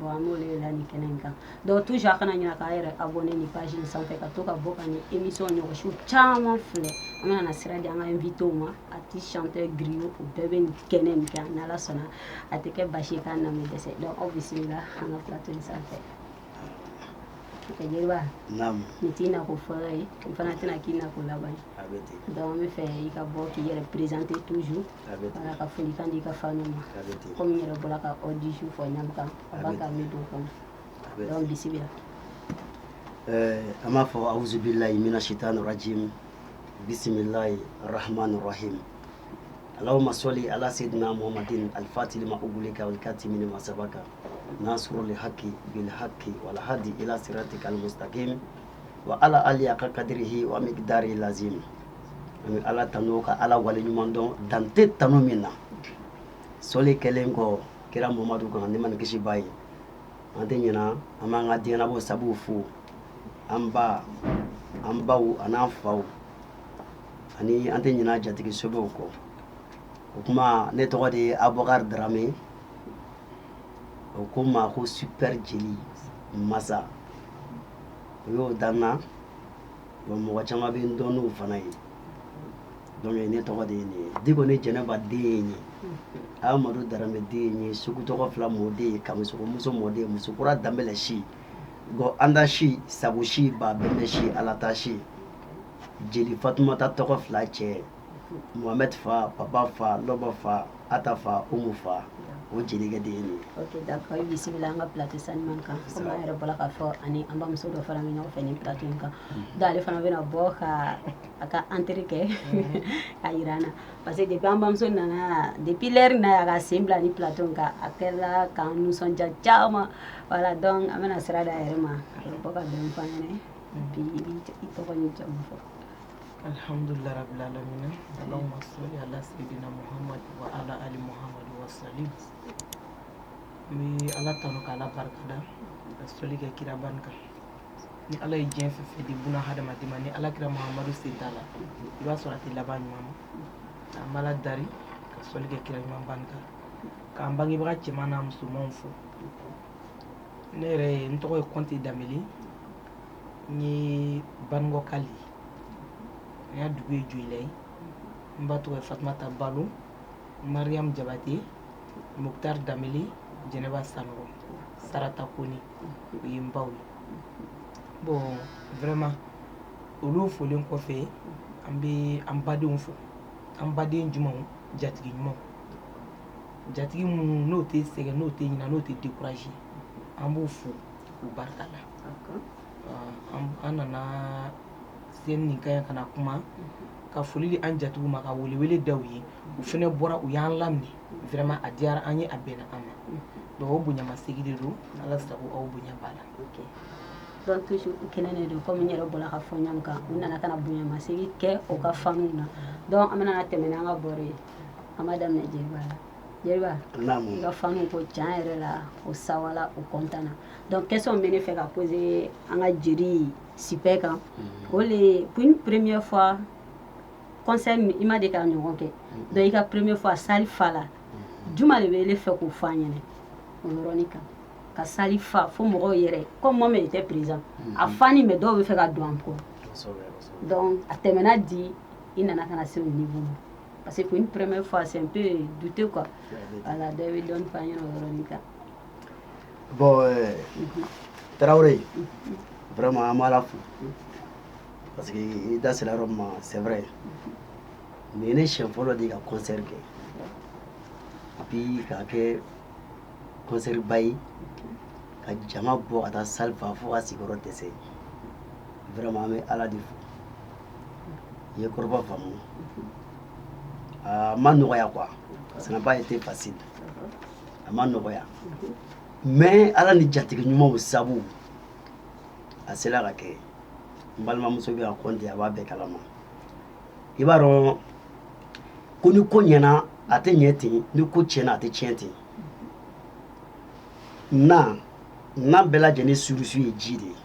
bon an b'olu de la nin kɛnɛ in kan donc toujours a kana ɲina k'a yɛrɛ abonné nin page in sanfɛ ka to ka bɔ ka nin émission ɲɔgɔnsiw caman filɛ an bɛna na sira di an ka invité ma artiste chanteur griot o bɛɛ bɛ nin kɛnɛ nin kan n'ala sɔnna a tɛ kɛ basi ye k'a na bɛ dɛsɛ donc aw bisimila an ka plateau in sanfɛ jeliba nin t'i nako fɔlɔ ye n fana tɛna k'i nako laban ye donc an bɛ fɛ i ka bɔ k'i yɛrɛ présenter toujours Ala ka foli kan di ka fa ma kɔmi yɛrɛ bɔra ka aw di su fɔ ɲa kan ala ka min don kɔnɔ bisimila ɛɛ an b'a fɔ awzla i bɛna si tan nɔgɔji bisimila ye arahama nɔgɔhi ala ma sɔli ala se dunan mɔgɔmad alifati ma u wuli ka wuli ka ti ma saba kan n'a sɔrɔ de haki bi haki wala hadi i sera tɛ kalimu wa ala ale y'a ka kadri h an bɛ dari laze an bɛ ala tanu ka ala wale ɲuman dɔn dan tɛ tanu min na sɔli kɛlen kɔ kira mamadu kan nɛɛma ni kisi b'a ye an tɛ ɲina an b'an ka diɲɛnabɔ sabu fo an ba an baw an'an faw ani an tɛ ɲina jatigi sɛbɛw kɔ o kuma ne tɔgɔ de ye abubakar daramɛ o ko n ma ko super jeli masa o y'o da n na bon mɔgɔ caman bɛ n dɔn n'o fana ye donc ne tɔgɔ de ye nin ye diko ni jɛnɛba den ye nin ye amadu daramɛ den ye nin ye sugu tɔgɔ fila mɔden ye kamisɔkɔ muso mɔden ye musokura danbɛlɛ si gɔ anda si sago si ba bɛnbɛ si alata si jeli fatumata tɔgɔ fila cɛ Mohamed fa papa fa lɔba fa ata fa umu fa o jelikɛ de ye nin ok d'accord i bisimila an ka plateau sanuman kan komi an yɛrɛ bɔra k'a fɔ ani an bamuso dɔ fana bɛ ɲɔgɔn fɛ nin plateau in kan mhm. donc ale fana bɛna bɔ ka a ka entrée kɛ mhm. a jira an na parce que depuis an bamuso nana depuis l'heure na a ka sen bila ni plateau in kan a kɛra k'an nisɔndiya caman voilà donc an bɛna sira d'a yɛrɛ ma a bɛ bɔ ka dɔɔni fɔ an ɲɛna bi i tɔgɔ ni jamu fɔ alhamdulillah rabbil alamin allahumma salli ala sayyidina muhammad wa ala ali muhammad wa sallim n bɛ ala tanu ka ala barika da ka soli kɛ kiraba in kan ni ala ye diɲɛ fɛn fɛn di buna hadamaden ma ni ala kira muhammadu sen t'a la i b'a sɔrɔ a tɛ laban ɲuman ma an b'ala dari ka soli kɛ kira ɲumanba in kan k'an bangebaga cɛman n'a musomanw fo ne yɛrɛ ye n tɔgɔ ye kɔnte danbele n ye banugɔkali an ya dugu ye jɔyila ye n ba tɔgɔ ye fatumata balo mariam jabate mukutari danbele jɛnɛba sanɔgɔ sarata kone o ye n baw ye bon vraiment olu folen kɔfɛ an bɛ an badenw fo an baden ɲumanw jatigi ɲumanw jatigi minnu n'o tɛ sɛgɛn n'o tɛ ɲina n'o tɛ découragé an b'u fo k'u barika da an nana sen in kan ka na kuma ka foli di an jatigiw ma ka welewele da ye u fana bɔra u y'an laminɛ vraiment a diyara an ye a bɛnna an ma dɔw bonyamasegin de don ala sago aw bonya la kɛnɛ de don kɔmi yɛrɛ bɔra ka fɔ ɲɔgɔn kan u nana ka bonyamasegin kɛ o ka fanw na donc an bɛna tɛmɛ an ka baro ye an b'a daminɛ jeliba la jeliba ka fanw ka ca yɛrɛ la o sawala o kɔntan na donc question min bɛ ne fɛ ka poser an ka jeri sipɛ kan mhm. o le pour une première fois concert min i ma deli k'a ɲɔgɔn kɛ mhm. donc i ka première fois salle fala mhm. jumɛn de b'e fɛ k'o fɔ an ɲɛna o yɔrɔnin kan ka salle fa fo mɔgɔw yɛrɛ comme moi même étais présent a fa ni mais dɔw bɛ fɛ ka don encore donc a tɛmɛna di i nana ka na se o niveau ma parce que pour une première fois c'est un peu douteux quoi voilà dɔ bɛ dɔɔnin fɔ an ɲɛna o yɔrɔnin kan bɔn eh, tarawele vraiment an b'ala fo parce que i da sera yɔrɔ ma c'est vrai nin ye ne siɲɛ fɔlɔ de ka concert kɛ et puis k'a kɛ concert ba ye ka jama bɔ ka taa salle fa fo ka sigiyɔrɔ dɛsɛ vraiment an bɛ ala de fo i ye kɔrɔfɔ faamu a ma nɔgɔya quoi ça n'a pas été facile a ma nɔgɔya mais ala ni jatigi ɲumanw sabu a sera ka kɛ n balimamuso bɛ ka kɔnte a b'a bɛɛ kalama i b'a dɔn ko ni ko ɲɛna a tɛ ɲɛ ten ni ko tiɲɛna a tɛ tiɲɛ ten na nan bɛɛ lajɛlen surusu ye ji de ye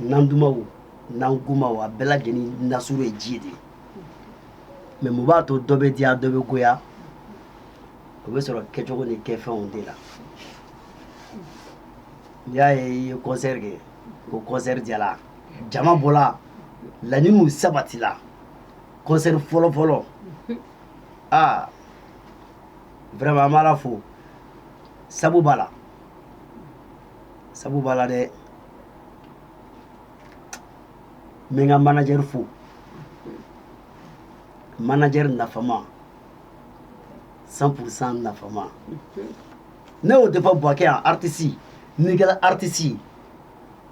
nan dumanw nan gomanw a bɛɛ lajɛlen nasuru ye ji de ye mais mun b'a to dɔ bɛ diya dɔ bɛ goya o bɛ sɔrɔ kɛcogo ni kɛ fɛnw de la n'i y'a ye i ye kɔnsɛri kɛ ko kɔnsɛri diyala jama bɔla laɲiniw sabatila kɔnsɛri fɔlɔ fɔlɔ aa vraiment an b'ala fo sabu b'a la sabu b'a la dɛ n bɛ n ka manajɛri fo manajɛri nafama cent pour cent nafama ne y'o de fɔ buwakɛ yan artisi n'i kɛra artisi ye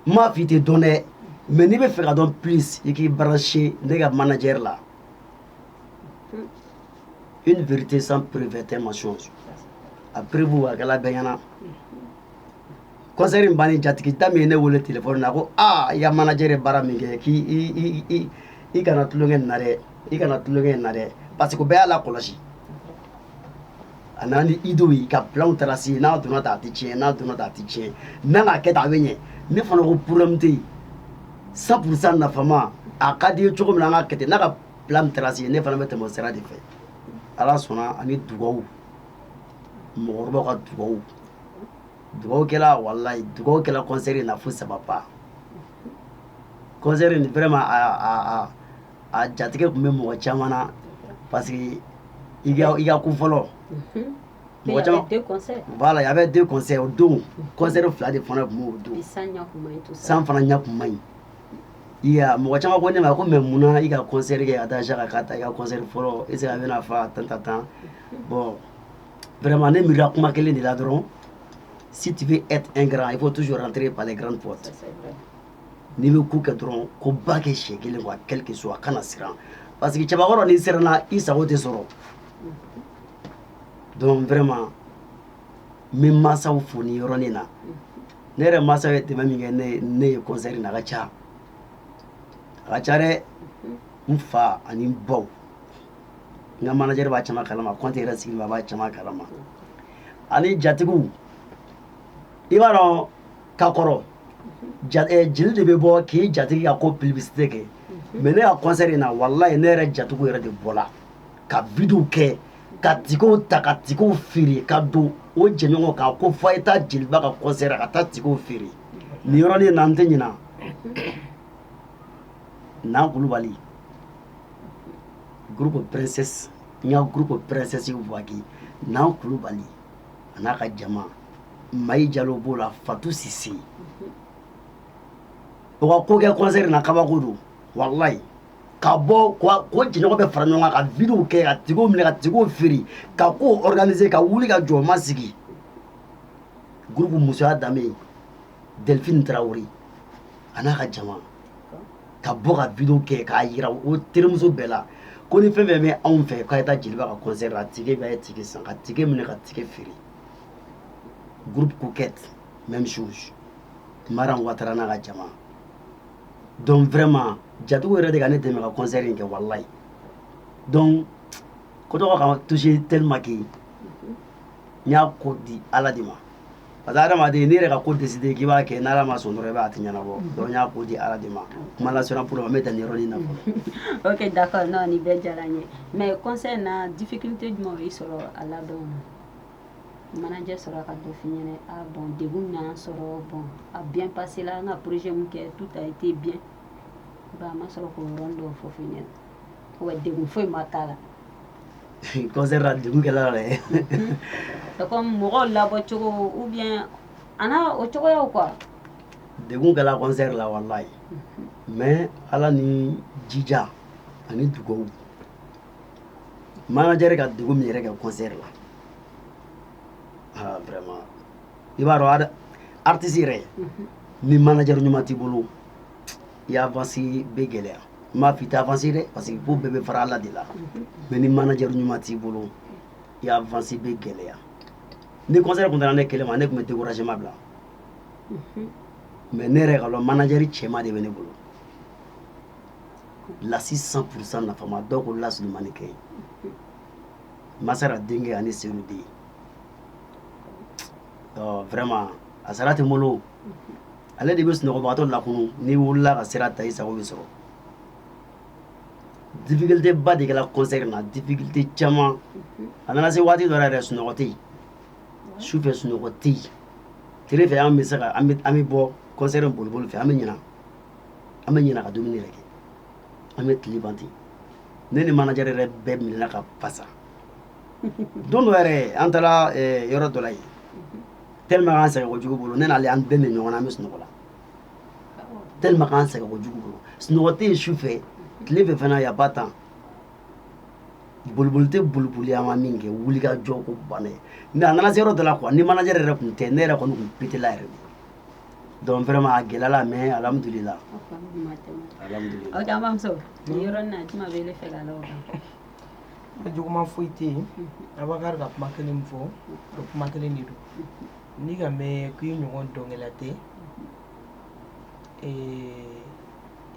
n m'a fɔ i tɛ dɔn dɛ mais n'i b'a fɛ ka dɔn plus i k'i brancher ne ka manager la une vérité sans preuve est un mensonge a preuve a kɛla bɛɛ ɲɛna kɔnsɛri in bannen jatigita min ye ne wele telefɔni na ko aa i ka manajɛ ye baara min kɛ k'i i kana tulonkɛ nin na dɛ i kana tulonkɛ nin na dɛ parce que bɛɛ y'a lakɔlɔsi a nana ni idéew ye ka bilaw taara se yen n'a donna ta a tɛ tiɲɛ n'a donna ta a tɛ tiɲɛ n'a n'a kɛ ta a bɛ ɲɛ ne fana ko problème tɛ yen cent pour cent nafama a ka di i ye cogo min na an ka kɛ ten n'a ka bila min taara se yen ne fana bɛ tɛmɛ o sira de fɛ ala sɔnna ani dugawu mɔgɔkɔrɔbaw ka dugawu dugawu kɛla walayi dugawu kɛla kɔnsɛri na fo ça va pas kɔnsɛri nin vraiment a jatigɛ tun bɛ mɔgɔ caman na parce que i ka kun fɔlɔ mɔgɔ caman b'a la y avait deux concerts o don kɔnsɛri fila de fana tun b'o don san fana ɲɛ tun man ɲi i mɔgɔ caman ko ne ma ko mais munna i ka kɔnsɛri kɛ a da ka ka taa i ka kɔnsɛri fɔlɔ est-ce a bɛna fa tan tan tan bɔn Vraiment ne miiri la kuma kelen de la dɔrɔn si tu veux être un grand il faut toujours rentrer par les grandes portes n'i bɛ ko kɛ dɔrɔn koba kɛ siɲɛ kelen quoi quel que soit kana siran parce que cɛbakɔrɔ n'i siranna i sago tɛ sɔrɔ donc vraiment n bɛ mansaw fo nin yɔrɔnin na ne yɛrɛ mansaw ye dɛmɛ min kɛ ne ne ye concert in na a ka ca a ka ca dɛ n fa ani n baw n ka manajɛri b'a caman kalama kɔnte yɛrɛ sigi b'a caman kalama ani jatigiw i b'a dɔn ka kɔrɔ eh, jeli de bɛ bɔ k'i jatigi ka ko publicité kɛ mhm. mais ne ka concert in na walayi ne yɛrɛ jatigiw yɛrɛ de bɔla ka video kɛ ka tikɛw ta ka tikɛw feere ka don o jɛɲɔgɔn kan ko fo a ye taa jeliba ka concert ka taa tikɛw feere nin yɔrɔnin na n tɛ ɲina nan kulubali groupe princesse n ka groupe princesse buwakɛ nan kulubali a n'a ka jama mayi jalo b'o la fatu sise o ka ko kɛ concert na kabako don walayi ka bɔ k'o jɛɲɔgɔn bɛɛ fara ɲɔgɔn kan ka videow kɛ ka tikɛw minɛ ka tikɛw feere ka kow organiser ka wuli ka jɔ ma sigi groupe musoya danbe Delphine Traore a n'a ka jama ka bɔ ka video kɛ k'a jira o terimuso bɛɛ la ko ni fɛn fɛn bɛ anw fɛ k'a ye taa jeliba ka concert la tike b'a ye tike san ka tike minɛ ka tike feere groupe coquette même chose Maran Ouattara n'a ka jama donc vraiment jatigiw yɛrɛ de ka ne dɛmɛ ka concert in kɛ walayi donc ko tɔgɔ ka toucher tellement que n y'a ko di Ala de ma parce que adamaden n'i yɛrɛ ka ko décidé k'i b'a kɛ n'ala ma sɔn dɔrɔn i b'a tɛ ɲɛnabɔ mm-hmm. donc n y'a ko di ala de ma mm-hmm. kuma lasera pour ma n bɛ dan nin yɔrɔnin na fɔlɔ ok d'accord non nin bɛɛ diyara n ye mais concert na difficulté jumɛn y'i sɔrɔ a labɛn na manajɛ sɔrɔ ka dɔ f'i ɲɛna a ah, bon degun y'an sɔrɔ bon a ah, bien passé la an ka projet min kɛ tout a été bien ba a ma sɔrɔ k'o yɔrɔnin dɔw fɔ f'i ɲɛna wa degun foyi ma k'a la concert la degun kɛla la dɛ c'est comme mɔgɔw labɔ cogo ou bien a n'a o cogoyaw quoi degun kɛla concert la walayi mais ala ni jija ani dugawu manager ka degun min yɛrɛ kɛ concert la ah vraiment i b'a dɔn artiste yɛrɛ ni manager ɲuman t'i bolo i avancer bɛ gɛlɛya n m'a fɔ i tɛ avancer dɛ parce que ko bɛɛ bɛ fara ala de la mais ni manajɛ ɲuman t'i bolo i avancer bɛ gɛlɛya ni concert tun tora ne kelen ma ne tun bɛ découragement bila mais ne yɛrɛ ka dɔn manajɛri cɛma de bɛ ne bolo lasi cent pourcent nafama dɔw ko lasurumani kɛ masara denkɛ ani senu den vraiment a sara tɛ n bolo ale de bɛ sunɔgɔbagatɔ lakunu n'i wulila ka sira ta i sago bɛ sɔrɔ difficulté ba de kɛra concert na difficulté caman a nana se waati dɔ la yɛrɛ sunɔgɔ tɛ yen su fɛ sunɔgɔ tɛ yen tile fɛ an bɛ se ka an bɛ an bɛ bɔ concert boliboli fɛ an bɛ ɲina an bɛ ɲina ka dumuni yɛrɛ kɛ an bɛ tile ban ten ne ni manager yɛrɛ bɛɛ minɛna ka fasa don dɔ yɛrɛ an taara yɔrɔ dɔ la yen tellement k'an sɛgɛn kojugu bolo ne n'ale an bɛɛ min ɲɔgɔn na an bɛ sunɔgɔ la tellement k'an sɛgɛn kojugu bolo sunɔgɔ tɛ yen su fɛ tile fɛ fana y a pas temps boliboli tɛ boliboli an ma min kɛ wulikajɔ ko banna ye mais a nana se yɔrɔ dɔ la quoi ni manager yɛrɛ tun tɛ ne yɛrɛ kɔni tun petela yɛrɛ de donc vraiment a gɛlɛyala mais alhamdulila alhamdulila aw da an b'amuso yɔrɔ na juma bɛ ne fɛ ka la o kan A juguman foyi tɛ yen Bakari ka kuma kelen fɔ o kuma kelen de don n'i k'a mɛn ko i ɲɔgɔn dɔnkɛla tɛ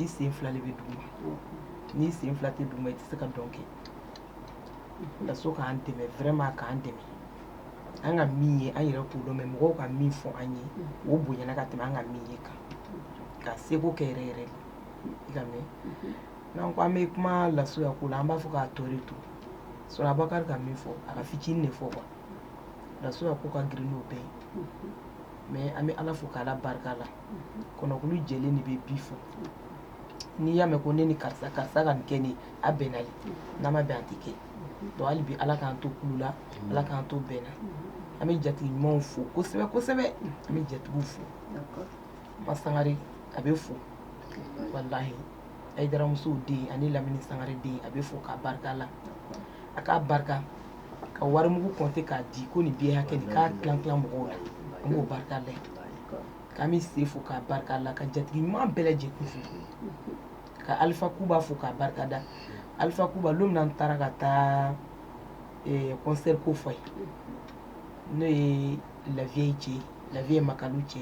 i sen fila de bɛ dugu ma n'i sen fila tɛ dugu ma i tɛ se ka dɔn kɛ Kaso k'an dɛmɛ vraiment k'an dɛmɛ an ka min ye an yɛrɛ k'o dɔn mɛ mɔgɔw ka min fɔ an ye o bonyana ka tɛmɛ an ka min ye kan ka segu kɛ yɛrɛ yɛrɛ i k'a mɛn N'an ko an bɛ kuma lasuya ko la an b'a fɔ k'a tɔ to so Bakari ka min fɔ a k'a fitinin de fɔ lasuya ko ka girin bɛɛ ye mɛ an bɛ ala fo k' ala barika la kɔnɔkulu jɛlen de bɛ bi fɔ n'i y'a mɛn ko ne ni karisa karisa ka kɛ ne a bɛnna ye n'a ma bɛn an tɛ kɛ don hali bi ala k'an to kulu la ala k'an to bɛn na an bɛ jatigi ɲumanw fo kosɛbɛ kosɛbɛ an bɛ jatigiw fo ba sangare a bɛ fo walahi ayidaramusow den ani lamini sangare den a bɛ fo k'a barika la a k'a barika ka warimugu kɔnte k'a di ko nin biye hakɛ nin k'a tilan tilan mɔgɔw la an b'o barika la k'an bɛ se fo k'a barika la ka jatigi ɲuman bɛɛ lajɛlen fo ka alifa kuba fo k'a barika da alifa kuba don min n taara ka taa eh, concert ko fɔ a ye n'o ye laviye cɛ laviye makalu cɛ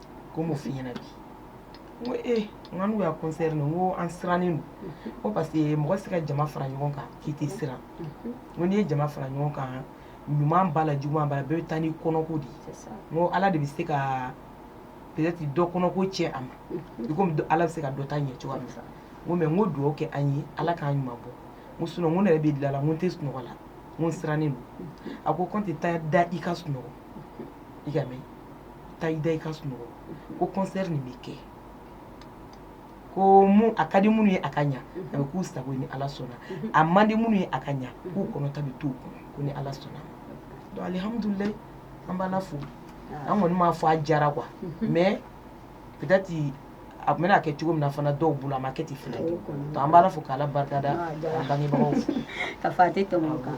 ko mun fiɲɛ na bi n ko e n ka n'u y'a concert n ko an sirannen don ko parce que mɔgɔ tɛ se ka jama fara ɲɔgɔn kan k'i tɛ siran n ko n'i ye jama fara ɲɔgɔn kan ɲuman b'a la juguman b'a la bɛɛ bɛ taa n'i kɔnɔko de ye n ko ala de bɛ se ka peut-être dɔ kɔnɔko tiɲɛ a ma i komi ala bɛ se ka dɔ ta ɲɛ cogoya min na n ko mɛ n ko dugawu kɛ an ye ala k'an ɲuman bɔ n ko sinɔn n ko ne yɛrɛ bɛ dilan la n ko n tɛ sunɔgɔ la n ko n sirannen don a ko kɔnte taa i da i ka sunɔgɔ i k'a mɛn taa i da i ka sunɔgɔ ko kɔnsɛri nin bɛ kɛ ko a ka di minnu ye a ka ɲɛ a bɛ k'u sago ye ni ala sɔnna a man di minnu ye a ka ɲɛ k'u kɔnɔta bɛ to u kɔnɔ ni ala sɔnna alihamudulila an b'ala fo an kɔni m'a fɔ a jara quoi mɛ peut-être a bɛna kɛ cogo min na fana dɔw bolo a ma kɛ ten fana an b'ala fo k' ala barika da bangebagaw ka fa tɛ tɛmɛ kan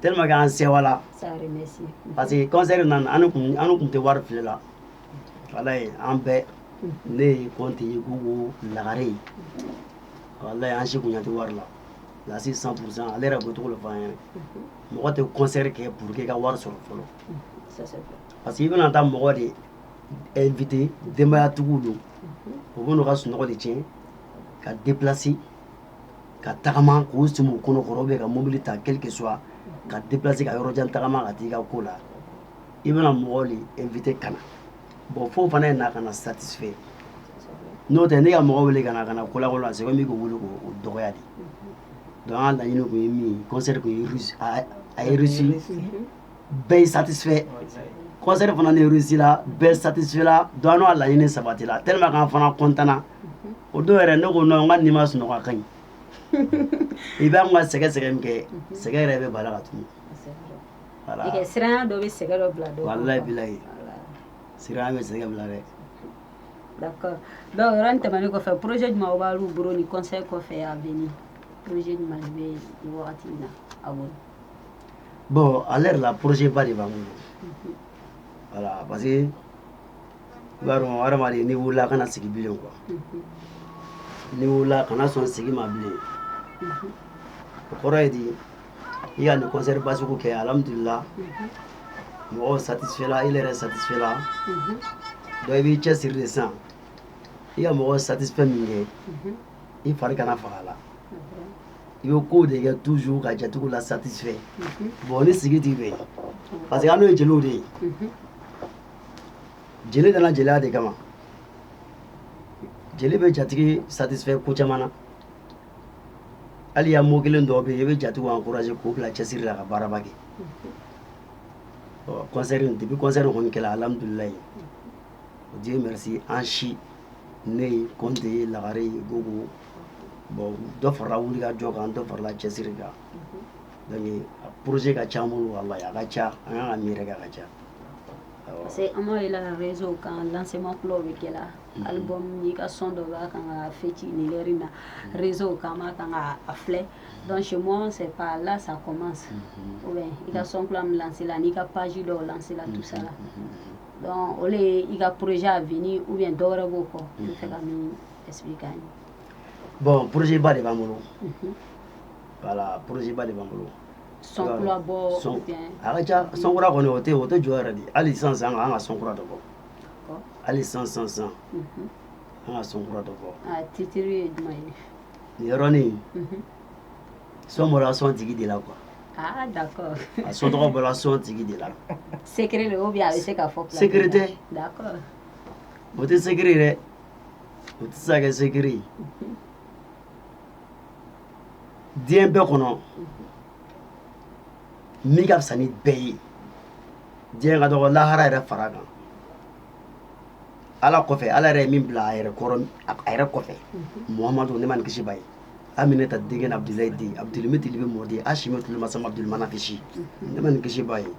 tellement que an sɛwala parce que concert nin na an tun tɛ wari filɛ la walayi an bɛɛ ne ye kɔnte ye ko lagare ye walayi an si bonya tɛ wari la lasi cent pour cent ale yɛrɛ bɛ to k'o fɔ an ye mɔgɔ tɛ concert kɛ pour que ka wari sɔrɔ fɔlɔ parce que i bɛna taa mɔgɔ de inviter denbayatigiw don u bɛna u ka sunɔgɔ de tiɲɛ ka déplacer ka tagama k'u si kɔnɔkɔrɔ bɛ ka mobili ta quelque soit ka deplase ka yɔrɔ jan tagama ka taa i ka ko la i bɛna mɔgɔ de inviter ka na bon fo fana ye na ka na satisifɛ n'o tɛ ne ka mɔgɔ wele ka ka kolago a se bɛ ko wuli o dɔgɔya de don an ka laɲini tun ye min kɔnsɛri tun ye réussi bɛɛ ye satisifɛ kɔnsɛri fana réussi la bɛɛ satisifela donc an laɲini sabatila tellement k'an fana kɔntanna o don yɛrɛ ne ko n kɔni ma sunɔgɔ ka ɲi i bɛ ka sɛgɛ sɛgɛn kɛ sɛgɛ yɛrɛ bɛ bala la tun bɛ sɛgɛ dɛ dɔw tɛmɛn kɔfɛ poroze jumɛn b'aw bolo nin ko kɔfɛ a bɛ poroze bɛ na a bɔn à l'heure là porozeba de b'an bolo voilà parce que i b'a dɔn hadamaden n'i wulila a kana sigi bilen quoi n'i wulila kana sɔn sigi ma bilen o kɔrɔ ye di i ka nin kɔnsɛriba sugu kɛ alihamudulila mɔgɔw satisifela i yɛrɛ satisifela donc i b'i cɛsiri de sa i ka mɔgɔw satisifɛ min kɛ i fari kana faga la i bɛ ko de kɛ toujours ka jatigiw lasatisifɛ bɔn ne sigi t'i fɛ parce que anw ye jeliw de ye jeli danna jeliya de kama jeli bɛ jatigi satisifɛ ko caman na hali y a mot kelen dɔw bɛ yen i bɛ jatigiw encourager k'u bila cɛsiri la ka baaraba kɛ kɔnsɛri depuis kɔnsɛri kɔni kɛla alihamudulilayi Dieu merci an si ne ye kɔnte ye lagare ye ko bon dɔ farala wulikajɔ kan dɔ farala cɛsiri kan poroze ka ca an bolo a ka ca an ka mi ka ca parce que an ye lagareso kan lasema kulaw bɛ kɛ ali bɔ'i ka sɔn dɔ la ka ka fiti ni yɛrɛ na rezo ka ma ka ka a filɛ dɔn sɛ ka lasa kɔman i ka sɔn lasila n'i ka pazi dɔw lasila dususa la o ye i ka poroze avenir ye dɔw wɛrɛ b'o kɔ bɔn porozeba de b'an bolo voilà porozeba de b'an bolo a ca sɔn kura kɔni o tɛ o tɛ jɔ yɛrɛ dɛ hali sisan sisan an ka sɔn kura dɔ bɔ hali sisan sisan sisan an ka sɔn kura dɔ bɔ nin yɔrɔnin son bɔra son tigi de la quoi ah d'accord a son tɔgɔ bɔra son tigi de la secret de ou bien a bɛ se ka fɔ secret tɛ d'accord o tɛ secret ye dɛ o tɛ se ka kɛ secret ye diɲɛ bɛɛ kɔnɔ min ka fisa ni bɛɛ ye diɲɛ ka dɔgɔ lahara yɛrɛ fara kan ala kɔfɛ ala yɛrɛ ye min bila a yɛrɛ kɔrɔ a yɛrɛ kɔfɛ muhamadu nɛɛma ni kisi b'a ye aminata denkɛ n'abidilayi den abitalibi mɔden a si ma tile masa ma bilimana kisi nɛɛma ni kisi b'a ye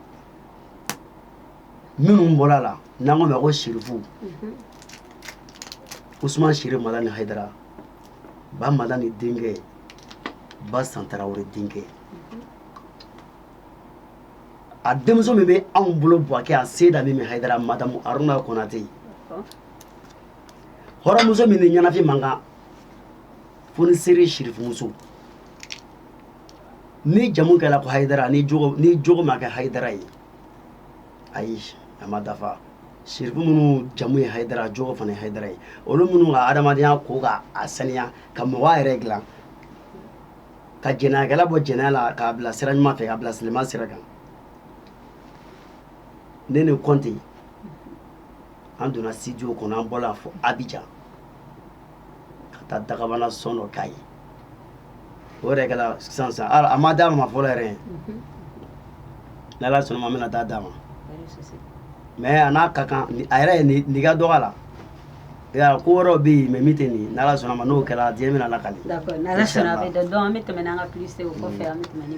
minnu bɔra la n'an k'o ma ko sirifu usman sirifu madani hayidara ba madani denkɛ basan tarawɛrɛ denkɛ a denmuso min bɛ anw bolo buwakɛ a seyida mimi hayidara madamu aruna konate hɔrɔnmuso min ni ɲɛnafin man kan fo ni sere ye sirifumuso n'i jamu kɛra ko hayidara n'i jogo n'i jogo ma kɛ hayidara ye ayi a ma dafa sirifu minnu jamu ye hayidara jogo fana ye hayidara ye olu minnu ka adamadenya ko ka a saniya ka mɔgɔ yɛrɛ dilan ka jɛnɛyakɛla bɔ jɛnɛya la k'a bila sira ɲuman fɛ k'a bila silamɛya sira kan ne ni kɔnte an donna studio kɔnɔ an bɔla fo abijan ka taa dagabana son dɔ k'a ye o yɛrɛ kɛra sisan sisan an ma d'a ma fɔlɔ yɛrɛ ni ala sɔnna ma an bɛna taa d'a ma mais a n'a ka kan a yɛrɛ ye nin ka dɔgɔ a la ya ko wɛrɛw bɛ yen mɛ min tɛ nin n'ala sɔnna ma n'o kɛra diɲɛ bɛn'a lakali n'ala sɔnna a bɛ dɔn an bɛ tɛmɛ an ka pse o kɔfɛ an bɛ tɛmɛ ni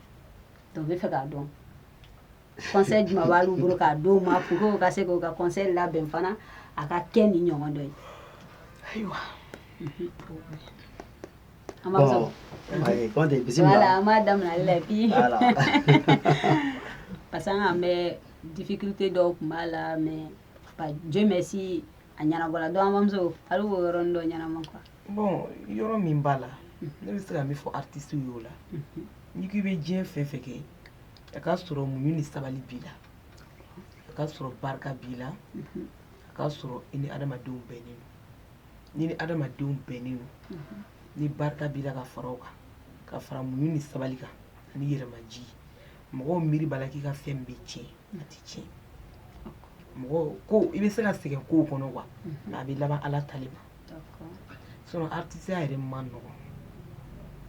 Donc n bɛ fɛ k'a dɔn conseil jumɛn b'alu bolo k'a d'u ma pour que u ka se k'u ka concert labɛn fana a ka kɛ nin ɲɔgɔn dɔ ye ayiwa an b'a sɔrɔ ayi kɔnte bisimila voilà an b'a daminɛ ale la puis voilà parce que quand même difficulté dɔw tun b'a la mais Dieu merci a ɲɛnabɔla donc an bamuso hali o yɔrɔnin dɔ ɲɛnama quoi bon yɔrɔ min b'a la ne bɛ se ka min fɔ artistew y'o la n'i k'i bɛ diɲɛ fɛn fɛn kɛ a ka sɔrɔ muɲu ni sabali b'i la a ka sɔrɔ barika b'i la a ka sɔrɔ i ni adamadenw bɛnnen don n'i ni adamadenw bɛnnen don ni barika b'i la ka fara o kan ka fara muɲu ni sabali kan ani yɛrɛmaji mɔgɔw miiri b'a la k'i ka fɛn bɛ tiɲɛ a tɛ tiɲɛ mɔgɔ ko i bɛ se ka sɛgɛn kow kɔnɔ wa a bɛ laban ala ta de ma sɔrɔ artisi yɛrɛ man nɔgɔ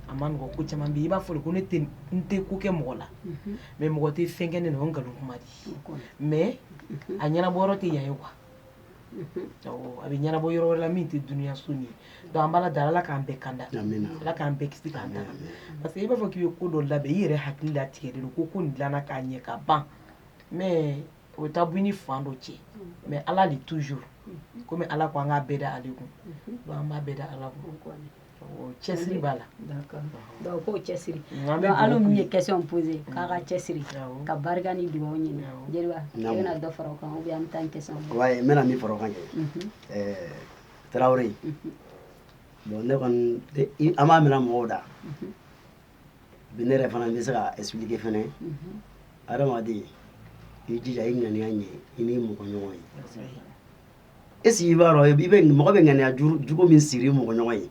a man nɔgɔ ko caman bi i b'a fɔ ko ne n tɛ ko kɛ mɔgɔ la mɛ mɔgɔ tɛ fɛn kɛ ne na nkalon kuma di mɛ a ɲɛnabɔ tɛ yan ye wa a bɛ ɲɛnabɔ yɔrɔ wɛrɛ la min tɛ dunyaso ye donc an b'a da ala k'an bɛɛ kanda ala k'an bɛɛ kisi k'an da parce que i b'a fɔ k'i ye ko dɔ labɛn i yɛrɛ hakili la tigɛ de ko ko nin dilanna k'a ɲɛ ka ban mɛ o bɛ taa bɔ ni fan dɔ cɛn mɛ ala de toujours kɔmi ala ko an ka bɛɛ da ale kun an b'a bɛɛ da ala cɛsiri b'a la ko cɛsirila min ye kɛsɔn pose k'a ka cɛsiri ka barika ni dugawu ɲini bɛna dɔ fara kan bɛ an tan kɛ n bɛna min fara kan kɛ tarawele bɔn ne kɔni an b'a minɛ mɔgɔw da bi ne yɛrɛ fana bɛ se ka expliquer fana adamaden i jija i ŋaniya ɲɛ i n'i mɔgɔ ɲɔgɔn ye est ce que i b'a dɔn i bɛ mɔgɔ bɛ ŋaniya jugu min siri mɔgɔ ɲɔgɔn ye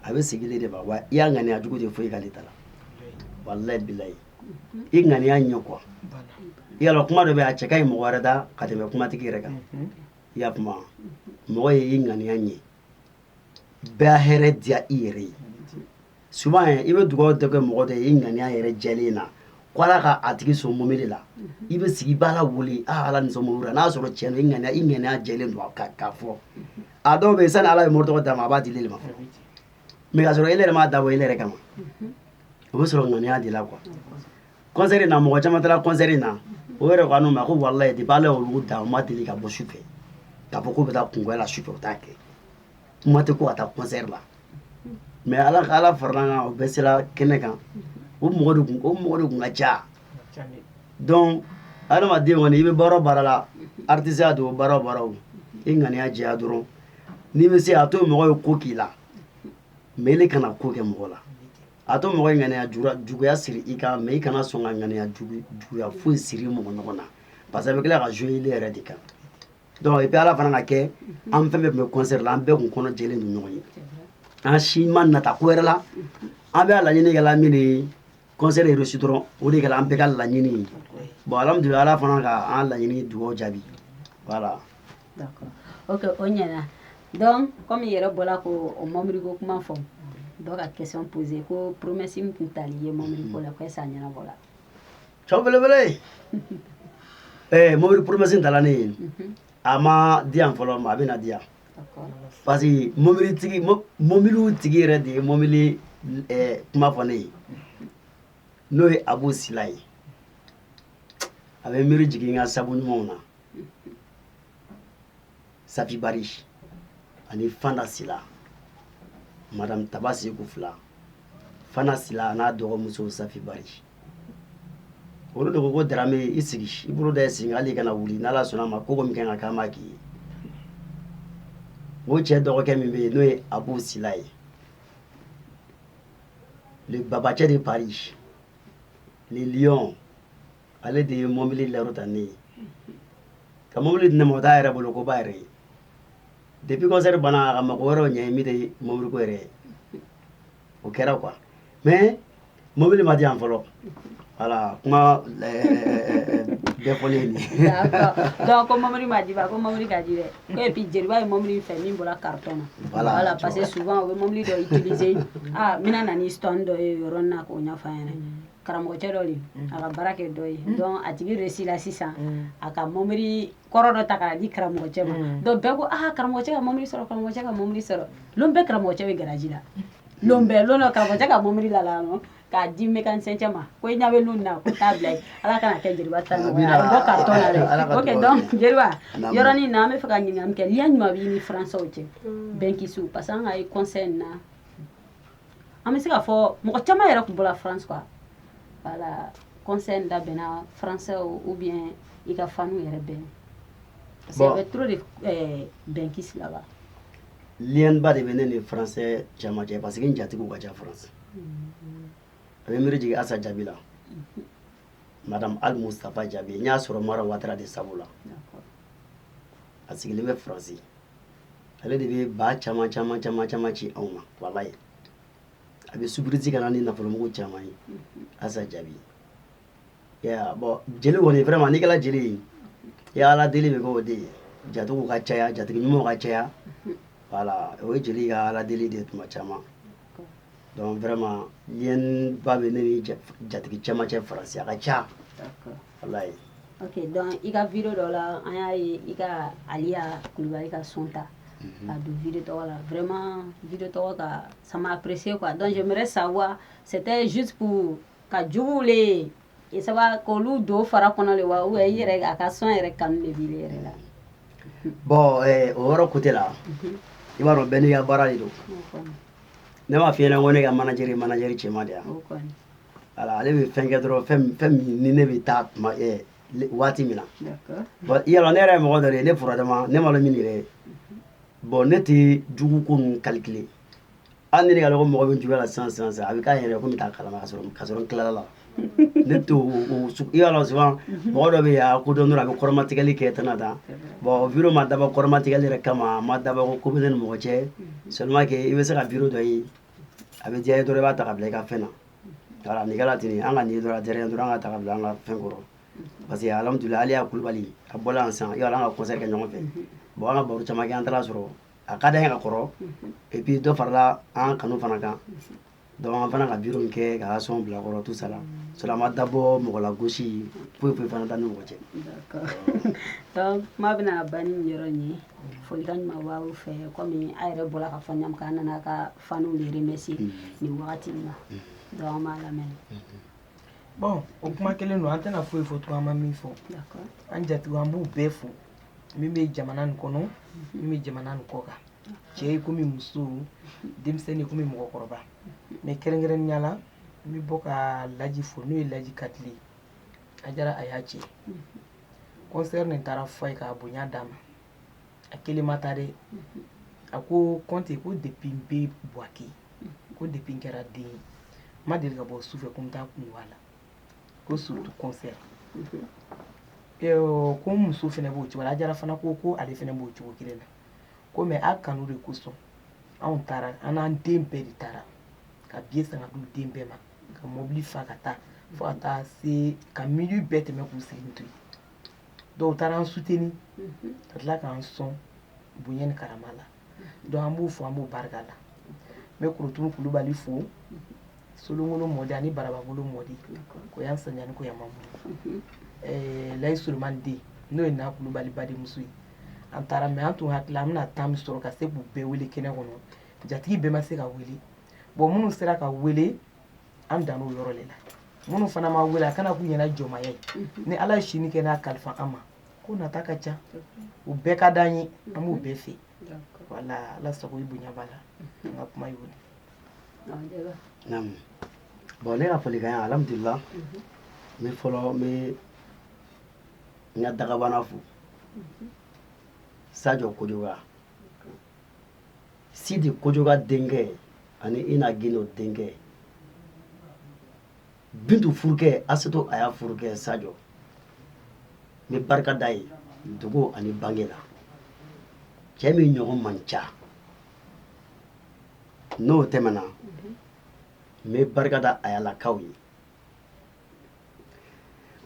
a bɛ segin ile de ma wa i y'a ŋaniya jugu tɛ foyi k'ale ta la walayi bilayi i ŋaniya ɲɛ quoi i y'a dɔn kuma dɔ bɛ a cɛ ka ɲi mɔgɔ wɛrɛ da ka tɛmɛ kumatigi yɛrɛ kan i y'a kuma mɔgɔ ye i ŋaniya ɲɛ bɛɛ hɛrɛ diya i yɛrɛ ye souvent i bɛ dugawu dɔ kɛ mɔgɔ dɔ ye i ŋaniya yɛrɛ jɛlen na ko ala ka a tigi sɔn mɔbili la i bɛ sigi i b'a la wuli a ala n'i sɔn mɔbili la sɔrɔ cɛn i ŋaniya i ŋaniya jɛlen don ka ka fɔ a dɔw bɛ yen sani ala ye mɔbili dɔ d'a ma a b'a di ne de ma mɛ ka sɔrɔ e yɛrɛ m'a dabɔ e yɛrɛ kama o bɛ sɔrɔ ŋaniya de la quoi kɔnsɛri na mɔgɔ caman taara kɔnsɛri na o yɛrɛ ko an ma ko walayi de b'ale olu da u ma deli ka bɔ su fɛ k'a fɔ k'u bɛ taa kɔɲɔya la su fɛ u t'a kɛ kuma tɛ ko ka taa kɔnsɛri la mɛ ala ka ala farala kan o bɛɛ sera kɛnɛ kan o mɔgɔ de kun o mɔgɔ de kun ka ca donc adamaden kɔni i bɛ baara o baara la artisiya don baara o baara o i ŋaniya jɛya dɔrɔn n'i bɛ se a to mɔgɔ ye ko k'i la mɛ ile kana ko kɛ mɔgɔ la a to mɔgɔ ŋaniya juguya siri i kan mɛ i kana sɔn ka ŋaniya juguya foyi siri mɔgɔ ɲɔgɔn na parce que bɛ tila ka jɔ ile yɛrɛ de kan dɔnku i bɛ ala fana ka kɛ an fɛn bɛ tun bɛ kɔnsɛri la an bɛɛ tun kɔnɔ jɛlen ni ɲɔgɔn ye an si ma nata ko wɛrɛ la an bɛɛ laɲini kɛla min kɔnsɛri ye réussir dɔrɔn o de an bɛɛ ka laɲini bɔn ala ala fana ka an laɲini dugawu jaabi wala o ɲɛna dɔn kɔmi yɛrɛ bɔra ka o mɔbili ko kuma fɔ dɔw ka kɛsɔn pose ko poromesi tun tala i ye mɔbili ko la ko sa ɲɛnabɔla cɛ belebele ye mobili poromesi ta ne ye a m'a di yan fɔlɔ mɛ a bɛna na di yan parce que mobilitigi mobiliw tigi yɛrɛ de ye mɔbili kuma fɔ ne ye n'o ye abu sila ye a bɛ miiri jigin ka sabu ɲumanw na safi bari ani fanta sila madame taba seku fila fanta sila n'a dɔgɔmuso safi bari olu de ko ko darame i sigi i bolo da i sigi hali kana wuli n'ala sɔnna a ma ko ko min ka kan k'an b'a k'i ye o cɛ dɔgɔkɛ min bɛ yen n'o ye abu sila ye le babacɛ de paris le lion ale de ye mɔbili laro ta ne ye ka mɔbili di ne ma o taa yɛrɛ bolo ko ba yɛrɛ ye depuis concert banna a ka mako wɛrɛw ɲɛ min tɛ mɔbili ko yɛrɛ ye o kɛra quoi mais mɔbili ma di yan fɔlɔ voilà kuma bɛɛ fɔlen ye nin ye donc ko mɔbili ma di ba ko mɔbili ka di dɛ ko et puis jeliba ye mɔbili fɛ min bɔra carton na Voilà, voilà tu parce que vois. souvent u bɛ mɔbili dɔ utiliser ah n bɛna na ni son dɔ ye yɔrɔ in na k'o ɲɛfɔ an ɲɛna karamɔgɔcɛ dɔ de a ka baara kɛ dɔ ye donc a tigi de si la sisan a ka mɔbili kɔrɔ dɔ ta k'a di karamɔgɔcɛ ma donc bɛɛ ko aa karamɔgɔcɛ ka mɔbili sɔrɔ karamɔgɔcɛ ka mɔbili sɔrɔ don bɛɛ karamɔgɔcɛ bɛ garaji la don bɛɛ don karamɔgɔcɛ ka mɔbili la la k'a di mécanicien ma ko i ɲa bɛ na ko t'a bila ala kana kɛ jeliba tan ka jeliba yɔrɔ in na an bɛ fɛ ka ɲininka kɛ lien jumɛn b'i ni faransaw cɛ benguistes parce que an ka i concert in na an bɛ se k'a fɔ mɔgɔ caman yɛrɛ tun bɔra france quoi voilà concert dabɛnna françaisw ou bien i ka fanw yɛrɛ bɛ yen parce que bon. y avait trop de euh, benguistes là-bas lienba de bɛ ne ni français caman cɛ parce que n jatigiw ka ca france mm-hmm. a bɛ miiri jigin asa jaabi la mm-hmm. madame al mustapha jaabi n y'a sɔrɔ mara watara de sabu la a sigilen bɛ faransi ale de bɛ ba caman caman caman caman ci anw ma walayi a bɛ surprise ka na ni nafolomugu caman ye asa jaabi bon jeli kɔni vraiment n'i kɛra jeli ye i ka ala deli bɛ k'o de ye jatigiw ka caya jatigi ɲumanw ka caya voilà o ye jeli ka ala deli de tuma caman Donc vraiment lien ba bɛ ne ni jatigi caman cɛ faransi a ka ca. D'accord. Walayi. Ok donc i ka video dɔ la an y'a ye i ka Aliya Kulubali ka son ta. Unhun. K'a don video tɔgɔ la vraiment video tɔgɔ ka ça m'a apprécié quoi donc j'aimerais savoir c'était juste pour ka juguw le ye e saba k'olu don fara kɔnɔ le wa ou i yɛrɛ a ka son yɛrɛ kanu de b'i yɛrɛ la bon eh, o yɔrɔ côté la mhm. i b'a dɔn bɛɛ n'i ka baara de don ne m'a f'i ɲɛna ko ne ka manajeri manajeri cɛma de yan ala ale bɛ fɛn kɛ dɔrɔn fɛn min ni ne bɛ taa tuma eh, waati min na bon i y'a lɔn ne yɛrɛ ye mɔgɔ dɔ de ye ne furadama ne ma dɔn min yɛrɛ ye bon ne tɛ jugu ko ninnu calculer an ne ka dɔgɔ mɔgɔ bɛ juguya la san san san a bɛ k'a yɛrɛ ko taa kalama ka sɔrɔ ka sɔrɔ tilala la ne to i y'a la suban mɔgɔ dɔ bɛ yan ko dɔn a bɛ kɔrɔmatigɛli kɛ tɛna da bɔn vi ma dabɔ kɔrɔmatigɛli yɛrɛ kama ma dabɔ ko bɛɛ ni mɔgɔcɛ samakɛ i bɛ se ka video ye a bɛ diya i ye dɔrɔn i b'a ta ka bila i ka fɛn na ni kɛra ten an ka nin dɔrɔn dɔrɔn an ka ta ka bila an ka fɛn kɔrɔ parce que alhamdulila aliya kulubali a bɔ an san i' an ka kɔsa kɛ ɲɔgɔn fɛ bɔn an ka baro caman an taara sɔrɔ a ka da ka kɔrɔ epi dɔ farala an kanu fana kan dɔn fana ka bi min kɛ ka sɔn bil'a kɔrɔ tu sara o ma dabɔ mɔgɔ lagosi foyi foyi fana tan ni mɔgɔcɛ kuma bɛna ban ni yɔrɔ ye foli ka ɲuman fɛ kɔmi a yɛrɛ bɔra k'a fɔ ɲa an nana ka fanw yɛrɛ mɛ se nin wagati min na dɔn an b'a lamɛn bɔn o kuma kelen don an tɛna foyi fɔ tun an ma min fɔ an jatigiw an b'u bɛɛ fo min bɛ jamana nin kɔnɔ min bɛ jamana nin kɔkan cɛ i komi muso denmisɛnnin i komi mɔgɔkɔrɔba mɛ kɛrɛnkɛrɛnnya la n bɛ bɔ ka laji fo n'o ye laji katile ajara aya cɛ kɔnsɛri nin taara fɔ ye k'a bonya d'a ma a kelen ma taa dɛ a ko kɔnte ko depi bɛ buwake ko depi kɛra den ma deli ka bɔ sufɛ ko n taa kun la ko suritu kɔnsɛri ko muso fana b'o cogo la ajara fana ko ko ale fana b'o cogo kelen na ko mɛ a kanu de kosɔn anw taara an n'an den bɛɛ de taara ka biye san ka d'u den bɛɛ ma ka mɔbili fa ka taa fo ka taa se ka minwi bɛɛ tɛmɛ k'u sigilen to yen dɔw taara an suteni ka tila k'an sɔn bonya ni karama la dɔnku an b'u fo an b'u barika la n bɛ kulutu kulubali fo solonkolon mɔdi ani barabagolo mɔdi ko yan sanani ko yan ma layi solomani den n'o ye n'a kulubali badenmuso ye an taara mɛ an tun hakili an bɛna tan min sɔrɔ ka se k'u bɛɛ wele kɛnɛ kɔnɔ jatigi bɛɛ ma se ka wele bɔn minnu sera ka wele an dan o yɔrɔ de la minnu fana ma wele a kana k'u ɲɛna jɔnmaya ye ni ala ye sini kɛ n'a kalifa an ma ko nata ka ca u bɛɛ ka d'an ye an b'u bɛɛ fɛ wala ala sago i bonya b'a la an ka kuma y'o de naamu bon ne ka folikan ye alhamdulila mhm. n bɛ fɔlɔ n bɛ n ka dagabana fo mhm. sajɔ kojoga sidi kojoga denkɛ ani ina gindo denkɛ bintu furukɛ asetu aya furukɛ sajɔ n bɛ barika da i ye dugu ani bange la cɛ min ɲɔgɔn man ca n'o tɛmɛna n bɛ barika da ayalakaw ye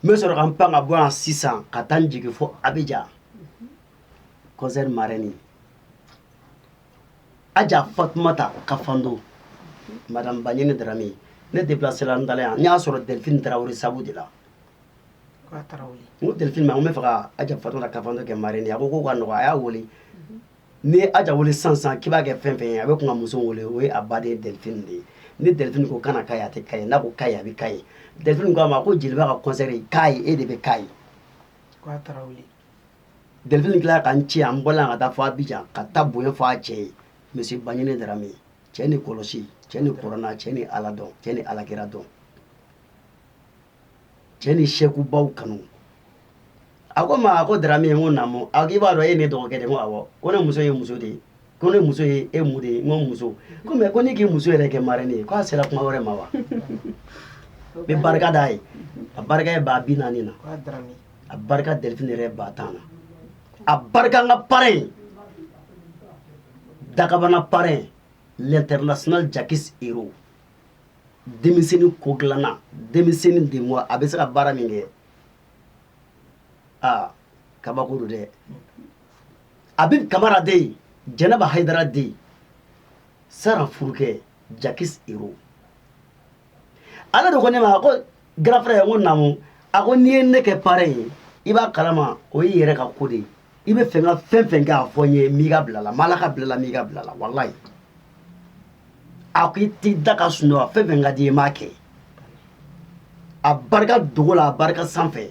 n bɛ sɔrɔ ka n pan ka bɔ yan sisan ka taa n jigin fo abijan kɔnsɛri marɛni aja fatumata kafando madame baɲini darame ne déplacera n dala yan n y'a sɔrɔ delphine tarawele sabu de la n ko delphine ma n b'a fɛ ka aja fatumata kafando kɛ marraine a ko k'o ka nɔgɔ a y'a wele n'i ye aja wele sisan sisan k'i b'a kɛ fɛn fɛn ye a bɛ kun ka muso wele o ye a ba de ye delphine de ye ni delphine ko kana ka ye a tɛ ka ye n'a ko ka ye a bɛ ka ye delphine ko a ma ko jeliba ka concert k'a ye e de bɛ k'a ye delfini dilan ka n cɛ an bɔla ka taa fo abijan ka taa bonya fɔ a cɛ ye misi baɲini darame cɛ ni kɔlɔsi cɛ ni kurana cɛ ni ala dɔn cɛ ni ala kira dɔn cɛ ni sɛkubaw kanu a ko n ma a ko darame ye n ko naamu a ko i b'a dɔn e ne dɔgɔkɛ de ko awɔ ko ne muso ye muso de ye ko ne muso ye e mun de ye n ko muso ko mɛ ko ne k'i muso yɛrɛ kɛ marɛni ye k'a sera kuma wɛrɛ ma wa n bɛ barika d'a ye a barika ye baa bi naani na a barika delphine yɛrɛ ba tan na a barika an ka parrain dagabana parrain l'international jakis hero denmisɛnnin ko dilanna denmisɛnnin de mɔ a bɛ se ka baara min kɛ aa kabako don dɛ abib kamara den jɛnɛba hayidara den saran furukɛ jakis hero ale de ko ne ma a ko garafara ye ko namu a ko n'i ye ne kɛ parɛn ye i b'a kalama o y'i yɛrɛ ka ko de ye i b'a fɛ ka fɛn fɛn kɛ a fɔ n ye m'i ka bila la ma ala ka bila la m'i ka bila la walayi a ko i t'i da ka sunɔgɔ fɛn fɛn ka di i m'a kɛ a barika dogo la a barika sanfɛ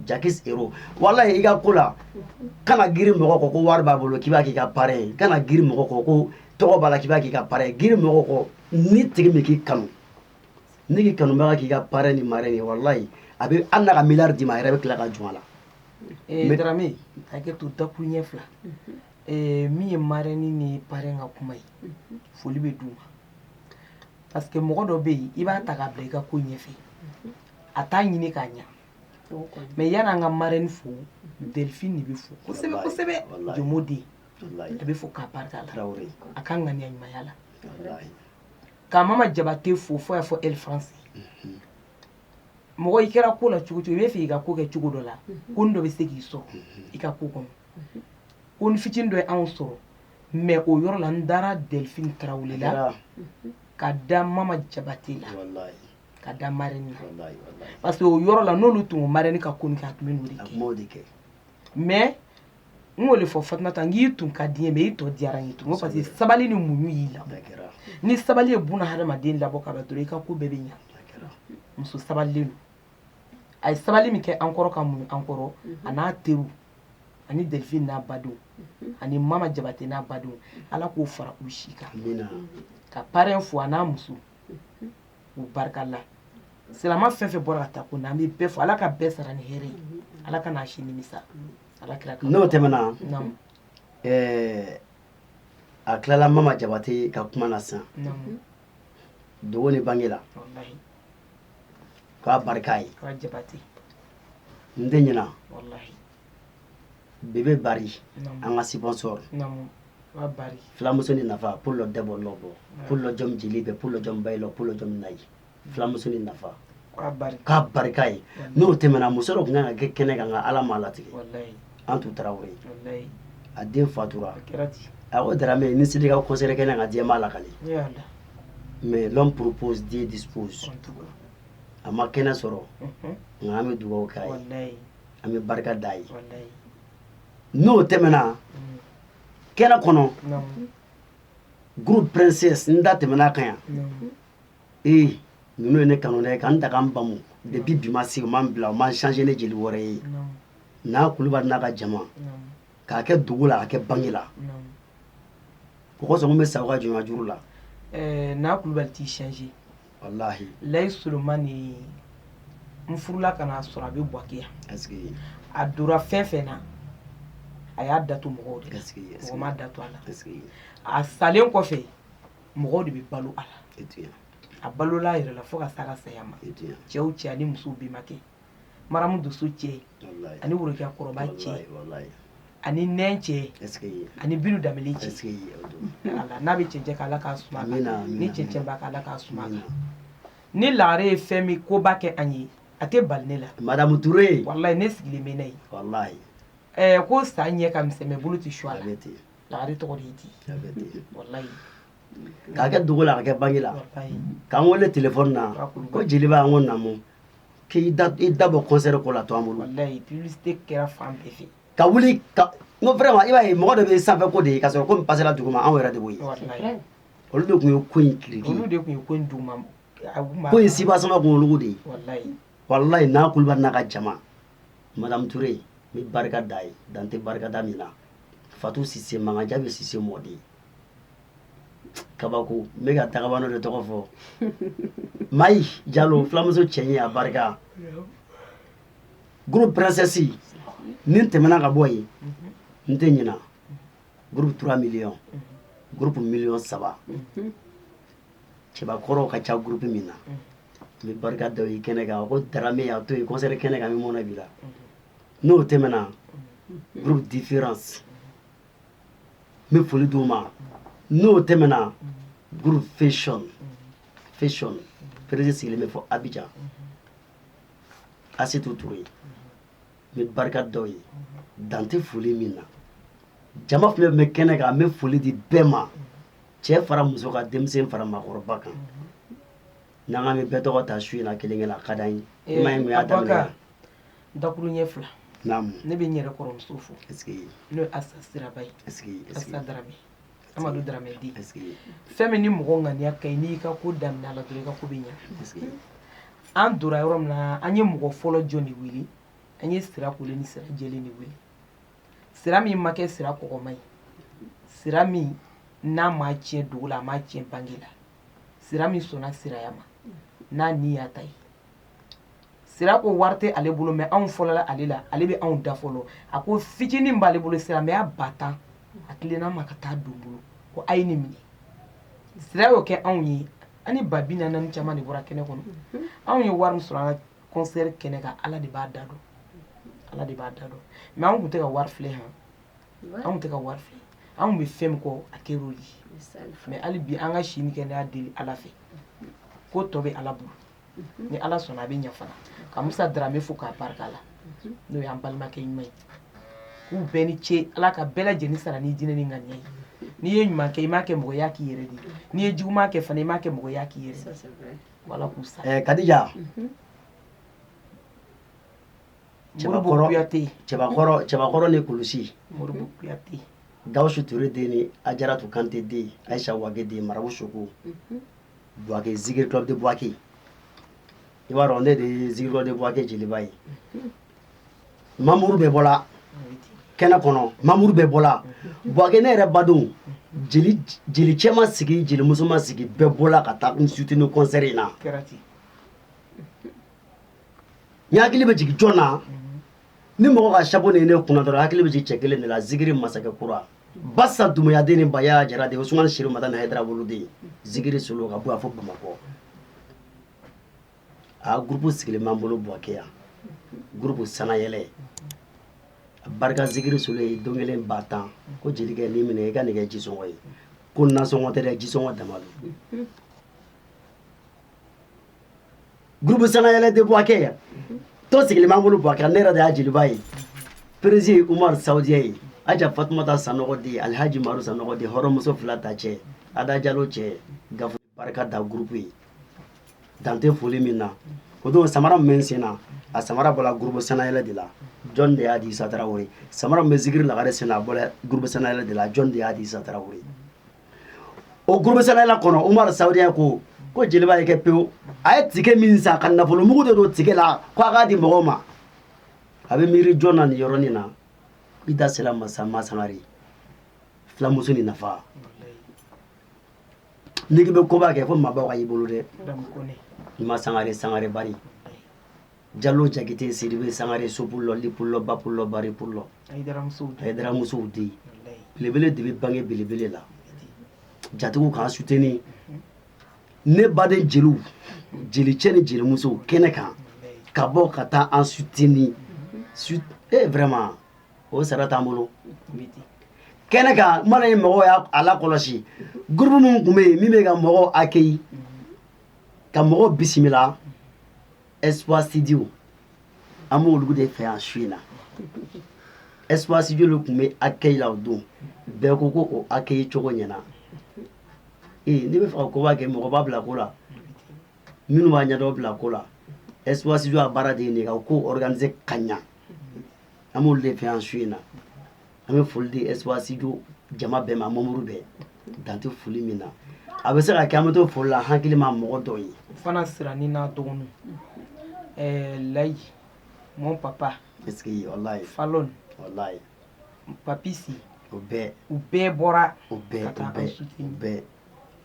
jakis ero walayi i ka ko la kana giri mɔgɔ kɔ ko wari b'a bolo k'i b'a k'i ka parɛn ye kana giri mɔgɔ kɔ ko tɔgɔ b'a la k'i b'a k'i ka parɛn ye giri mɔgɔ kɔ ni tigi min k'i kanu n'i k'i kanubaga k'i ka parɛn ni marɛni ye walayi a bɛ na ka miliyari d'i ma a yɛrɛ bɛ tila ka jɔ a la eh, darame a kɛ to dakuruɲɛ fila mhm. eh, min ye marɛni ni parɛn ka kuma ye mhm. foli bɛ d'u ma parce que mɔgɔ dɔ bɛ yen i b'a ta k'a bila i ka ko ɲɛfɛ mhm. a t'a ɲini k'a ɲa mɛ n y'an ka marɛni fo delphine de bɛ fo kosɛbɛ kosɛbɛ jomo den a bɛ fo k'a barika la a ka ŋaniya ɲumanya la ka mama jabate fo fo y'a fɔ elfansi mɔgɔ i kɛra ko la cogo cogo i b'a fɛ i ka ko kɛ cogo dɔ la konin dɔ bɛ se k'i sɔrɔ i ka ko kɔnɔ konin fitinin dɔ ye anw sɔrɔ mɛ o yɔrɔ la n dara delfin tarawele la ka da mama jabate la ka da marɛni na parce que o yɔrɔ la n'olu tun ko marɛni ka ko kɛ a tun bɛ n'o de kɛ mɛ n k'o de fɔ fatumata n k'i tun ka di n ye mais i tɔ diyara n ye tun parce que sabali ni muɲu y'i labɔ ni sabali ye buna hadamaden labɔ ka dɔrɔn i ka ko bɛɛ bɛ ɲa muso sabalilen don a ye sabali min kɛ an kɔrɔ ka muɲu an kɔrɔ a n'a teriw ani delifin n'a badenw ani mama jabate n'a badenw ala k'o fara u si kan ka parɛn fo a n'a muso u barika la silamɛ fɛn fɛn bɔra ka taa kun na an bɛ bɛɛ fo ala ka bɛɛ sara ni hɛrɛ ye ala kan'a si nimisa ala kira kan n'o tɛmɛna Naamu. ɛɛ a tilala mama jabate ka kuma na sisan Naamu. dugu ni bange la Wallahi. k'a barika ye K'a jabate. n tɛ ɲinɛ Wallahi. bebe bari an ka sponsor filamuso ni nafa p dɔ dɛbɔ nɔ bɔ p dɔja jeli bɛ p dɔjaba ye la p dɔ na ye filamuso ni nafa k'a barika ye n'o tɛmɛna muso dɔ tun kan kɛ kɛnɛ kan nka ala m'a latigɛ an tun taara o ye a den fatura a o dara mɛ ni selika kɔnsɛri kɛnɛ ka diɲɛba la ka mɛ dɔn purpose di dibo a ma kɛnɛ sɔrɔ nka an bɛ dugawu k'a ye an bɛ barika d'a ye n'o tɛmɛna mm. kɛnɛ kɔnɔ groupe princesse n da tɛmɛna kan yan ee ninnu ye ne kanu dɛ ka n ta ka n bamu depuis bi ma se u ma n bila u ma n changer ni jeli wɛrɛ ye na kulubali n'a ka jama k'a kɛ dugu la a kɛ bange la o kosɔn n bɛ sa u ka jɔnya juru la na kulubali t'i changer walahi layi solomani ye n furula ka n'a sɔrɔ a bɛ buwake yan a dora fɛn fɛn na a y'a datu mɔgɔw de la mɔgɔ m'a datu a la a salen kɔfɛ mɔgɔw de bɛ balo a la a balola a yɛrɛ la fo ka s'a ka saya ma cɛw cɛ ani musow bɛnbakɛ maramu dusu cɛ ani worokɛ kɔrɔba cɛ ani n cɛ ani bi da cɛ n'a bɛ cɛ cɛ' ala ka suma ni cɛ cɛ k' ala ka suma la ni lagare ye fɛn min koba kɛ an ye a tɛ bali ne la madamu ture walayi ne sigilen bɛ na ye ko sa ɲɛ ka misɛn bolo tɛ su a la lagare tɔgɔ k'a kɛ dugu la a kɛ bangela k'an weele tile na ko jeliba an ko naamu k'i da bɔ kɔnsɛri ko la a to an bolo kɛra fan bɛɛ fɛ ka wuli ka n ko vraiment i b'a ye mɔgɔ dɔ bɛ sanfɛ ko de ye ka sɔrɔ ko pasera dugu ma anw yɛrɛ de b'o ye olu de tun ye ko in kiriki olu de tun ye ko in dugu ma ko in soubassement tun olu de ye walayi na kulubali n'a ka jama madamu ture n bɛ barika d'a ye dan tɛ barikada min na fatu sise magan jabe sise mɔden kabako ne ka dakabana de tɔgɔ fɔ mayi jalo fulamuso cɛ ye a barika groupe princesse n'i tɛmɛna ka bɔ yen n tɛ ɲina groupe 3 millions groupe million saba cɛbakɔrɔw ka ca groupe min na n bɛ barika d'a ye kɛnɛ kan ko darame a to yen kɔnsɛri kɛnɛ kan n bɛ mɔnɛ bi la n'o tɛmɛna groupe différence n bɛ foli d'u ma n'o tɛmɛna groupe fashion fashion perezi sigilen bɛ fo abijan asitu ture n bɛ barika d'o ye dan tɛ foli min na jama fɛn bɛ kɛnɛ kan n bɛ foli di bɛɛ ma cɛ fara muso kan denmisɛn fara maakɔrɔba kan n'an k'an bɛ bɛɛ tɔgɔ ta su in na kelen kelen a ka d'an ye i m'a ye mun y'a daminɛ dakuruɲɛ fila ne bɛ n yɛrɛ kɔrɔmuso fo n'o ye asa sira ba ye asa daramɛ amadu daramɛ den fɛn min ni mɔgɔ ŋaniya ka ɲi n'i ka ko daminɛ la dɔrɔn i ka ko bɛ ɲɛ an donna yɔrɔ min na an ye mɔgɔ fɔlɔ jɔn de wele an ye sira kolen ni sira jɛlen de wele sira min ma kɛ sira kɔgɔma ye sira min n'a ma tiɲɛ dugu la a ma tiɲɛ bange la sira min sɔnna siraya ma n'a ni y'a ta ye sira ko wari tɛ ale bolo mɛ anw fɔlɔla ale la ale bɛ anw da fɔlɔ a ko fitinin b'ale bolo silamɛya ba tan a tilenna ma ka taa don bolo ko a ye nin minɛ sira y'o kɛ anw ye ani ba bi naani caman de bɔra kɛnɛ kɔnɔ anw ye wari sɔrɔ an ka kɔnsɛri kɛnɛ kan ala de b'a da dɔn ala de b'a da dɔn mɛ anw tun tɛ ka wari filɛ yan anw tɛ ka wari filɛ anw bɛ fɛn min kɔ a kɛ o ye mɛ hali bi an ka si ni kɛnɛya deli ala fɛ ko tɔ bɛ ala bolo ni ala sɔnna a bɛ ɲɛ fana ka musa dramɛ fo k'a barika la n'o y'an balimakɛ ɲuman ye k'u bɛɛ ni ce ala ka bɛɛ lajɛlen sara ni jinɛ ni ŋaniya ye n'i ye ɲuman kɛ i m'a kɛ mɔgɔ ye i y'a k'i yɛrɛ de ye n'i ye juguman kɛ fana i m'a kɛ mɔgɔ ye i y'a k'i yɛrɛ la ala k'u sara ɛɛ kadija cɛbakɔrɔ kuyate cɛbakɔrɔ cɛbakɔrɔ ni kulusi modibo kuyate gawusu ture den ni ajaratu kante den ayisa wage den marabu soko buwake zigiri club de buwake i b'a dɔn ne de ye zigiri club de buwake jeliba ye mamuru bɛɛ bɔla kɛnɛ kɔnɔ mamuru bɛɛ bɔla buwake ne yɛrɛ badenw jeli jeli cɛ ma sigi jeli muso ma sigi bɛɛ bɔla ka taa n sutini kɔnsɛri in na n hakili bɛ jigin jɔn na ni mɔgɔ ka chapeau nin ye ne kun na dɔrɔn hakili bɛ jigin cɛ kelen de la zigiri masakɛ kura basa dumuyaden ni baya jara de usumani serifu madani hayidara bolo de zikiri solo ka bɔ a fo bamakɔ a gurupu sigilen b'an bolo buwake yan gurupu sanayɛlɛ barika zikiri solo ye don kelen ba tan ko jelikɛ nin minɛ i ka nin kɛ jisɔngɔ ye ko nasɔngɔ tɛ dɛ jisɔngɔ dama don groupe sanayɛlɛ de buwakɛ yan tɔn sigilen b'an bolo buwakɛ ne yɛrɛ de y'a jeliba ye perezi umar saudiya ye aja fatumata sanɔgɔ di alhaji maru sanɔgɔ di hɔrɔnmuso fila ta cɛ ada jalo cɛ gafu barika da groupe ye dan tɛ foli min na o don samara min bɛ n sen na a samara bɔra groupe sanayɛlɛ de la jɔn de y'a di isa tarawele samara min bɛ zikiri lagare sen na a bɔra groupe sanayɛlɛ de la jɔn de y'a di isa tarawele o groupe sanayɛlɛ kɔnɔ umaru saudiya ko ko jeliba ye kɛ pewu a ye tike min san ka nafolomugu de don tike la ko a k'a di mɔgɔw ma a bɛ miiri jɔn na nin yɔrɔnin na i da sera masa masangare filamuso ni nafa n'i k'i bɛ koba kɛ fo maabaw ka y'i bolo dɛ masangare sangare bari Jalo jakite sidibe sangare so pulo li pulo ba pulo bari pulo aramusow de belebele de bɛ bange belebele la jatigiw k'an suteni ne baden jeliw jelicɛ ni jelimuso kɛnɛ kan ka bɔ ka taa an suteni su vraiment o sara t'an bolo kɛnɛ kan mana ye mɔgɔ y'a lakɔlɔsi groupe minnu tun bɛ yen min bɛ ka mɔgɔw accueilli ka mɔgɔw bisimila espoir sijo an bɛ olu de fɛ yan su in na espoir sijo tun bɛ accueil la o don bɛɛ ko ko o accueil cogo ɲɛna ee n'i b'a fɛ ka koba kɛ mɔgɔba bila ko la minnu b'a ɲɛdɔn bila ko la espoir sijo a baara de nin ko organisé ka ɲɛ an b'olu de fɛ yan su in na an bɛ foli di espoir sijo jama bɛɛ ma mamuru bɛɛ dan tɛ foli min na a bɛ se ka kɛ an bɛ to foli la hakili ma mɔgɔ dɔw ye fana sira ni n'a dɔgɔnin layi mɔn papa walayi falon walayi papisi o bɛɛ u bɛɛ bɔra u bɛɛ u bɛɛ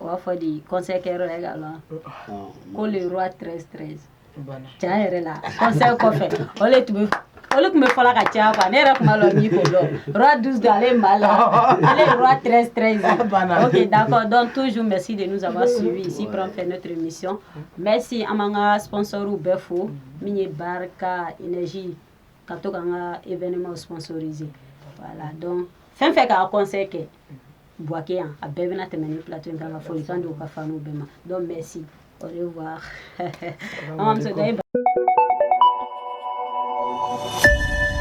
o b'a fɔ de concert kɛyɔrɔ la e ka lɔn ko le roi 13 13 tiɲɛ yɛrɛ la concert kɔfɛ o le tun bɛ olu tun bɛ fɔla ka caya quoi ne yɛrɛ tun b'a lɔn min ko le roi 12 12 ale ye mali la ale ye roi 13 13 ye ok d'accord donc toujours merci de nous avoir suivi ici pour en faire notre émission merci an b'an ka sponsorw bɛɛ fo min ye barika énergie ka to k'an ka événement sponsoriser voilà donc fɛn fɛn ka concert kɛ Buwake yan a bɛɛ bɛna tɛmɛ ni plateau in kan ka folikan di u ka fanw bɛɛ ma donc merci au revoir an b'a muso da i ba